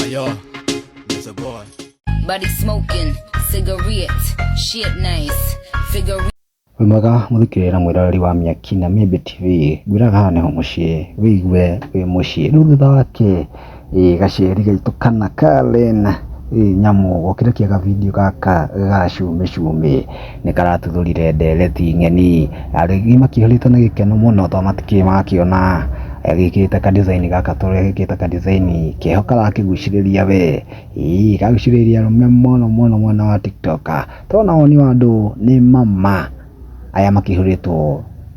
Ayo, it's a boy. Buddy smoking, cigarette, shit nice, figure wĩ mwega mũthikĩrĩra mwĩroreri wa mĩaki na mĩmbĩ tv ngwĩraga haha nĩho mũciĩ wĩigue wĩ mũciĩ rĩu thutha wake ĩ gaceri gaitũ kana karen ĩ nyamũ gokire kĩega video gaka gacumĩcumĩ nĩ karatuthũrire ndereti ng'eni. Arĩithi makĩhũrĩte na gĩkeno mũno tondũ matikĩrĩ makĩona gĩkĩte ka design gaka tũrĩa gĩkĩte ka design keho karakĩgucĩrĩria we. Ĩĩ kagucĩrĩria arũme mũno mũno mwena wa TikTok. Tondũ ona woni wa andũ nĩ ma ma aya makĩhũrĩtwo.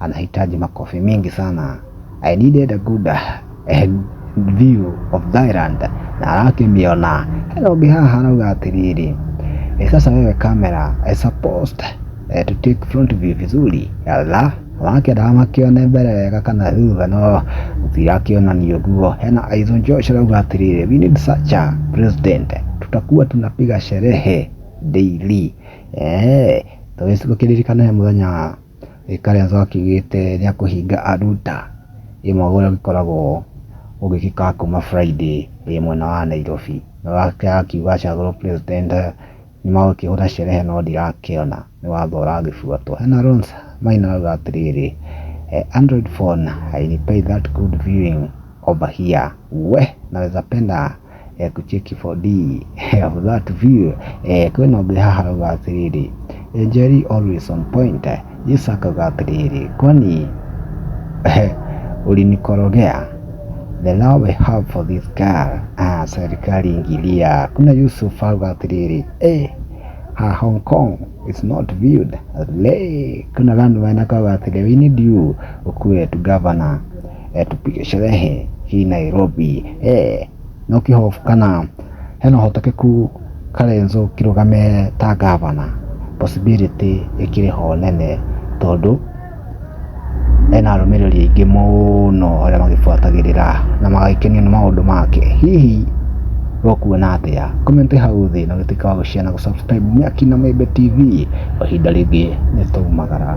anahitaji makofi mingi sana. I needed a good eh, view of Thailand na arakĩmĩona hena ũngĩ haha arauga atĩrĩrĩ eh, sasa wewe kamera eh, supposed eh, to take front view vizuri yalla wakendaga makĩone mbere wega kana thutha no tirakĩonania ũguo hena Aizo Josh arauga atĩrĩrĩ we need such a president tutakuwa tunapiga sherehe daily eh, tũgĩcigo kĩririkana he mũthenya Kalonzo akiugĩte nĩ ekũhinga Aluta ĩmwe ũrĩa ũgĩkoragwo ũgĩgĩka kuma Friday wĩ mwena wa Nairobi. Na nake akiuga acagũrwo president nĩ magũkĩhũra sherehe no ndirakĩona nĩ watho ũragĩbuatwo. Hena Rose Maina arauga atĩrĩrĩ, Android phone I replay that good viewing over here, wee naweza penda. eh, kucheki 4D eh, of that view eh, kwĩna ũngĩ haha rauga atĩrĩrĩ eh, Njeri always on point eh, Yesu akauga atĩrĩrĩ kwani eh, ulinikorogea the love we have for this girl ah, serikali ingilia kuna Yusuf auga atĩrĩrĩ eh, ha Hong Kong is not viewed as lay kuna lanu wanakauga atĩrĩ we need you ukuwe tu governor eh, tupige sherehe hii Nairobi eh, no kihofu kana hena hotekeku Karenzo kirugame ta gavana possibility ikiri ho nene tondu ena arũmĩrĩri aingĩ mũno arĩa magĩbuatagĩrĩra na magagĩkenio nĩ maũndũ make hihi wokuona atĩa comment hau thĩ na ũgĩtuĩka wa gũshare na gũsubscribe Mĩaki na Membe TV o ihinda rĩngĩ nĩ tũgumagara